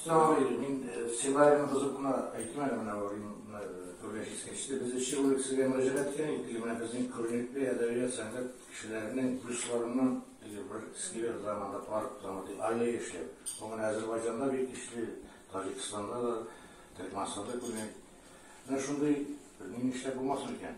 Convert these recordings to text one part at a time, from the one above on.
Сәгыйр, мин сценарийны бозып кына әйттем әле менә бу күргәч искәчте. Без өче ул кешегә мөрәҗәгать иткән идек, менә безнең күренекле әдәбият, сәнгать кешеләренең плюсларыннан бер сквер заманда парк заманда аллея эшләп. Бу менә Азәрбайҗанда бик көчле, Таҗикстанда да, Төркмәнстанда күргән. Менә шундый ни эшләп булмасын икән.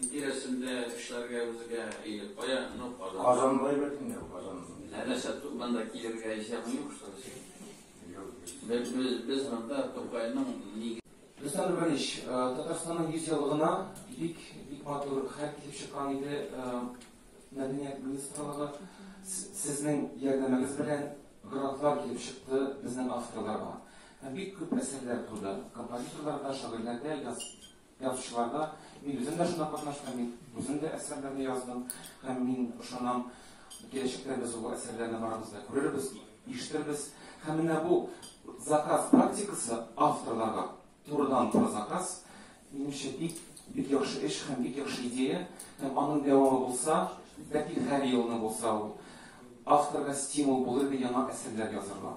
Тирәсендә эшләргә үзгә егет кая? Ну, Казан. Казанда егет инде, Казан. Ә нәрсә, монда килергә исәбең юк, что ли? Юк. Без, без, без монда Тукайның ни... Рөстәм Рүбәлич, Татарстанның 100 еллыгына бик, бик матур хәл килеп чыккан иде. Мәдәният министрлыгы сезнең ярдәмегез белән грантлар килеп чыкты безнең авторларга. Һәм бик күп әсәрләр туды. Композиторлар да, шагыйрьләр дә яз, Язучыларда мин үзем дә шунда катнаштым, мин үзем дә әсәрләрне яздым һәм мин ышанам, киләчәктә без ул әсәрләрне барыбыз да күрербез, ишетербез. Һәм менә бу заказ практикасы авторларга турыдан туры заказ, минемчә бик бик яхшы эш һәм бик яхшы идея, һәм аның дәвамы булса, бәлки һәр елны булса ул авторга стимул булыр иде яңа әсәрләр язырга.